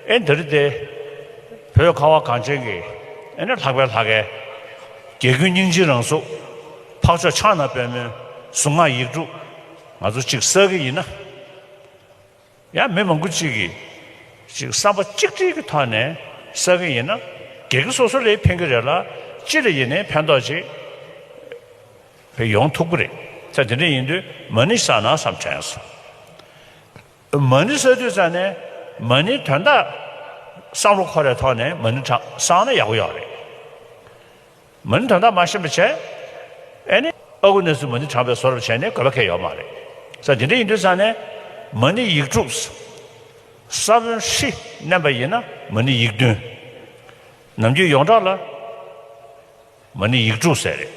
ཨེ་འདིར་ཏེ། བོད་ཁ་བ་གངས་ཅན་གྱི། ཨེ་ནི་ལྷག་པའི་ལྷ། གལ་ཀུན་སྙིང་རྗེའི་རང་གཟུགས། འཕགས་མཆོག་ཕྱག་ན་པད་མོའི། གཟུངས་སྔགས་ཡིག་དྲུག། ང་ཚོ་གཅིག་བསགས་ཀྱི་ཡིན་ན། ཡང་མི་མང་པོ་གཅིག་གིས། གཅིག་བསམ་པ་གཅིག་སྒྲིལ་གྱི་ཐོག་ནས་བསགས་ཀྱི་ཡིན་ན། གལ་ཀུན་སོ་སོ་རེའི་ཕན་གྱི་རེད་ལ། སྤྱི་ལ་ཡིན་ནས་ཕན་ཐོགས་ཅིག། ཡོང་ཐུབ་ཀྱི་རེད། ཚེ་འདི་འདྲ་ཡིན་དུས་མ་ནི་བསགས་ན་བསམ་དྲན་སོང། མ་ཎི་ས་དུས་ཙམ་ནས་མ་ཎི་དོན་དག་བསམ་བློ་འཁོར་བའི་ཐོག་ནས་མ་ཎི་དྲང་བསང་ན་ཡག་པོ་ཡོད་རེད། མ་ཎི་དོན་དག་མ་ཤེས་པ་བྱས་ཨེ་ནི་ཨ་ཁུ་ནས་ཚུལ་མ་ཎི་དྲང་བའི་བཟོ་རབ་བྱས་ནས་དགོས་པ་ཁེལ་ཡོད་མ་རེད། ས་དེ་འདྲ་ཡིན་དུས་ཙམ་ནས་མ་ཎི་ཡིག་དྲུག་ས་བོན་ཧྲི་བསྣན་པ་ཡིན་ན་མ་ཎི་ཡིག་བདུན། ནམ་རྒྱུན་ཡོངས་གྲགས་ལ་མ་ཎི་ཡིག་དྲུག་ཟེར་རེད།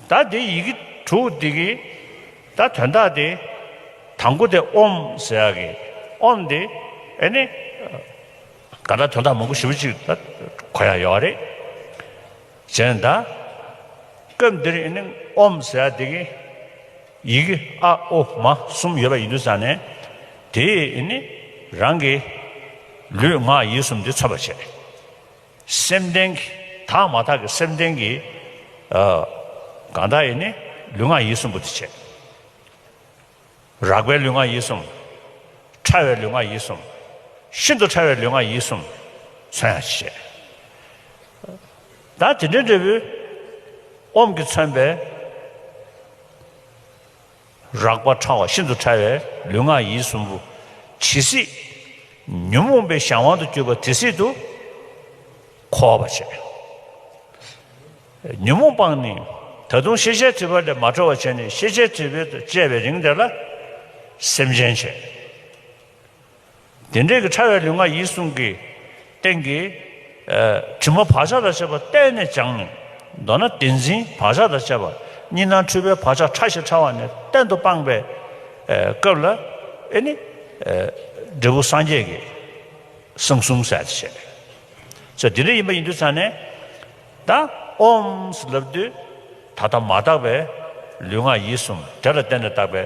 ད་དེ་ཡི་གེ་དྲུག་འདི་གི་ད་དོན་དག་སྟེ། དང་པོ་དེ་ཨོམ་ཟེར་བ་གི་ཨོམ་དེ་ཨེ་ནི། ག་ད་དོན་དག་མང་པོ་བཞི་པོ་གཅིག་ད་གོ་ཡག་ཡོད་རེད། གཞན་ད་སྐབས་འདིར་ཨེ་ནི་ཨོམ་ཟེར་བ་དེ་གི་ཡི་གེ་ཨ་ཨོ་མ་གསུམ་ཡོད་པ་ཡིན་དུས་སང་ནས་དེས་ཨེ་ནི་རང་གི་ལུས་ངག་ཡིད་གསུམ་དེ་མཚོན་པར་བྱེད། སེམས་ལྡན་གྱི་དག་མ་དག་གི་སེམས་ལྡན་གྱི། གང་དག་ཡིན་ནི་ལུས་ངག་ཡིད་གསུམ་པོ་དེ་བྱེད། རགས་པའི་ལུས་ངག་ཡིད་གསུམ། ཕྲ་བའི་ལུས་ངག་ཡིད་གསུམ། ཤིན་ཏུ་ཕྲ་བའི་ལུས་ངག་ཡིད་གསུམ། མཚོན་ཡང་བྱེད། ད་དེ་འདྲའི་འབྲས་བུའི། ཨོམ་གྱིས་མཚོན་པའི། རགས་པ་ཕྲ་བ་ཤིན་ཏུ་ཕྲ་བའི་ལུས་ངག་ཡིད་གསུམ་པོ། ཇི་སྲིད་ཉོན་མོངས་པའི་གཞན་དབང་དུ་གྱུར་པ་དེ་སྲིད་དུ་འཁོར་བར་བྱེད། ཉོན་མོངས་སྤངས་ནས་ད་དུང་ཤེས་བྱའི་དྲི་བ་ལས་མ་གྲོལ་བར་བྱས་ནས་ཤེས་བྱའི་དྲི་བས་དུ་བཅད་པའི་རིང་དེ་ལ་སེམས་ཅན་བྱེད། དེ་འབྲས་ཀྱི་ཕྲ་བའི་ལུས་ངག་ཡིད་གསུམ་གྱི། སྟེང་གི། དྲི་མ་བག་ཆགས་དང་བཅས་པ་བརྟན་ནས་སྦྱངས་ནས། མདོར་ན་དེ་འཛིན་བག་ཆགས་དང་བཅས་པ། གཉིས་སྣང་འཁྲུལ་པའི་བག་ཆགས་ཕྲ་ཞིང་ཕྲ་བ་ནས་གཏན་དུ་སྤངས་པའི། སྐབས་ལ། ཨེ་ནི། འབྲས་བུ་སངས་རྒྱས་ཀྱི། གསང་གསུམ་གསལ་བྱེད་ཆེ། ཚེ་འདི་འདྲ་ཡིན་པ་ཡིན་དུ་ཆ་ནས། ད། ཨོམ། ལབ་དུས། ད་ལྟ་མ་དག་པའི། ལུས་ངག་ཡིད་གསུམ་དེ་ལ་བརྟེན་ནས་བཏགས་པའི།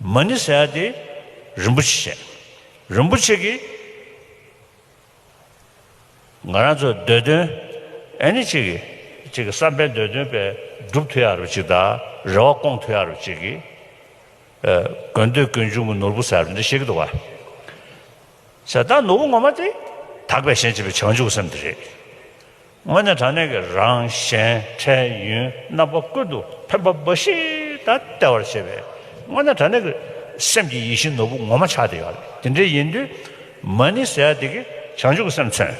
མ་ནི་ས་ཡ་དེ་རིན་པོ་ཆེ་བཤད། རིན་པོ་ཆེ་གིས། ང་རང་ཚོ་འདོད་དོན་ཨེ་ནི་གཅིག་གིས་གཅིག་གི་བསམ་པའི་འདོད་དོན་དཔེ་སྒྲུབ་ཐུ་ཡ་རུ་གཅིག་དང་རེ་བ་སྐོང་ཐུ་ཡ་རུ་གཅིག་གིས། དགོས་འདོད་ཀུན་འབྱུང་གི་ནོར་བུ་ཟེར་བ་འདི་ཤེས་ཀྱི་འདུག་བ། ད་ནོར་བུ་ངོ་མ་དེ་དག་པའི་ཞེན་བྱེད་པའི་བྱང་ཆུབ་སེམས་དེ་རེད། སྔོན་ནས་དྲང་གནས་ཀྱི་རང་གཞན་འཕྲལ་ཡུན་རྣམ་པ་ཀུན་ཏུ་ཕན་པ་འབའ་ཞིག་དང་སྟེར་བར་བྱེད་པས་སྔོན་ནས་དྲང་གནས་ཀྱི་སེམས་ཀྱི་ཡིད་བཞིན་ནོར་བུ་ངོ་མ་ཆགས་བསྡད་ཡོད་རེད་དེ་འདྲའི་ཡིན་དུས་མ་ཎི་ཟེར་ཡ་དེ་གི་བྱང་ཆུབ་ཀྱི་སེམས་མཚོན།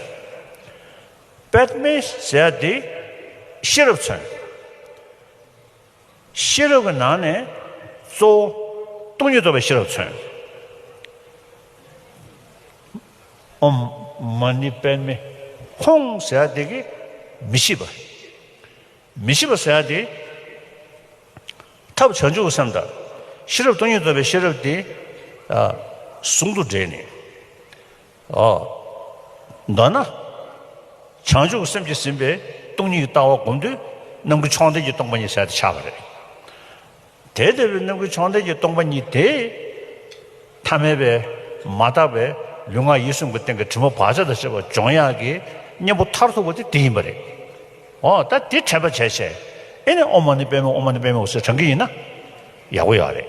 པདྨའི་ཟེར་ཡ་དེ་ཤེས་རབ་མཚོན། ཤེས་རབ་ཀྱི་ནང་ནས་གཙོ་བོ། སྟོང་ཉིད་རྟོགས་པའི་ཤེས་རབ་མཚོན། འོ། མ་ནི་པདྨའི་ཁོང་ཟེར་བ་དེ་གི། མི་ཤིས་པ། མི་ཤིས་པ་ཟེར་བ་དེ། ཐབས་བྱང་ཆུབ་སེམས་དང། ཤེས་རབ་སྟོང་ཉིད་རྟོགས་པའི་ཤེས་རབ་དེ། ཟུང་དུ་འབྲེལ་ནས། མདོར་ན། བྱང་ཆུབ་སེམས་ཀྱིས་ཟིན་པའི་སྟོང་ཉིད་ཀྱི་ལྟ་བ་བསྒོམ་དུས་རྣམ་ཀུན་མཆོག་འདས་ཀྱི་སྟོང་པ་ཉིད་གསལ་དུ་འཆར་བ་རེད། དེ་ལྟ་བུའི་རྣམ་ཀུན་མཆོག་འདས་ཀྱི་སྟོང་པ་ཉིད་དེ། ཐ་མལ་པའི། མ་དག་པའི། ལུས་ངག་ཡིད་གསུམ་གྱི་སྟེང་གི་དྲི་མ་བག་ཆགས་དང་བཅས་པ་སྦྱོང་ཡང་གི་གཉེན་པོ་མཐར་ཐུག་པ་དེ་དེ་ཡིན་པ་རེད། འོ་ད་དེ་དྲན་པ་བྱས་བྱས། ཨེ་ནས་ཨོ་མ་ནི་པདྨའི་ཨོ་མ་ནི་པདྨའི་འོད་ཟེར་དྲངས་ཀྱི་ཡིན་ན། ཡག་པོ་ཡག་རེད།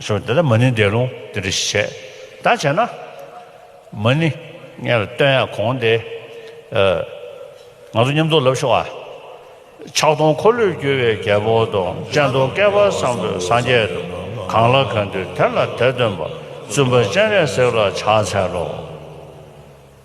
གསུངས། དེ་ལ་མ་ནི་འདས་ལུང་དེ་འདྲ་ཞིག་བྱས། ད་བྱས་ན། མ་ནི། ངས་ལ་སྟོན་ཡང་གོང་དེ། ང་ཚོ་མཉམ་འཚོ་ལབ་ཤོག་ཨ། ཕྱག་སྟོང་འཁོར་ལོས་བསྒྱུར་བའི་རྒྱལ་པོ་དང་སྤྱན་སྟོང་བསྐལ་པ་བཟང་པོས་སངས་རྒྱས་དུ་གང་ལ་གང་འདུལ་དེ་ལ་དད་སྟོན་པ་བཙུན་པ་སྤྱན་རས་གཟིགས་ལ་ཕྱག་འཚལ་ལོ།